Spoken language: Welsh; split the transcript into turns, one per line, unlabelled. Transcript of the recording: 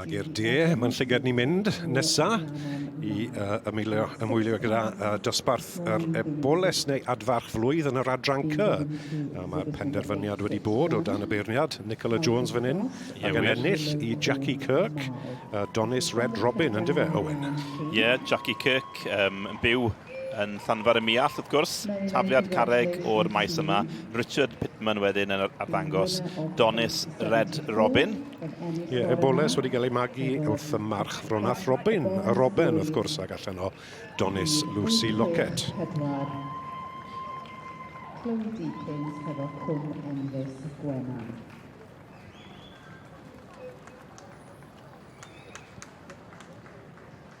Ac i'r de, mae'n llygad ni'n mynd nesa i uh, ymwylio, ymwylio gyda uh, dosbarth yr eboles neu adfarch flwydd yn yr adran cy. A mae penderfyniad wedi bod o dan y beirniad Nicola Jones fan hyn ac yn ennill i Jackie Kirk, uh, Donis Red Robin, ynddo fe, Owen? Ie, yeah, Jackie
Kirk um, yn byw yn Llanfair y Muallt, wrth gwrs, tafliad carreg o'r maes yma. Richard Pitman wedyn yn arddangos Donis Red Robin. Ie, yeah,
eboles wedi cael ei magu wrth y march fronath Robin, y Robin wrth gwrs, ac allan o Donis Lucy Lockett. Clywdi Pins hefo Cwm Enfys
Gwenan.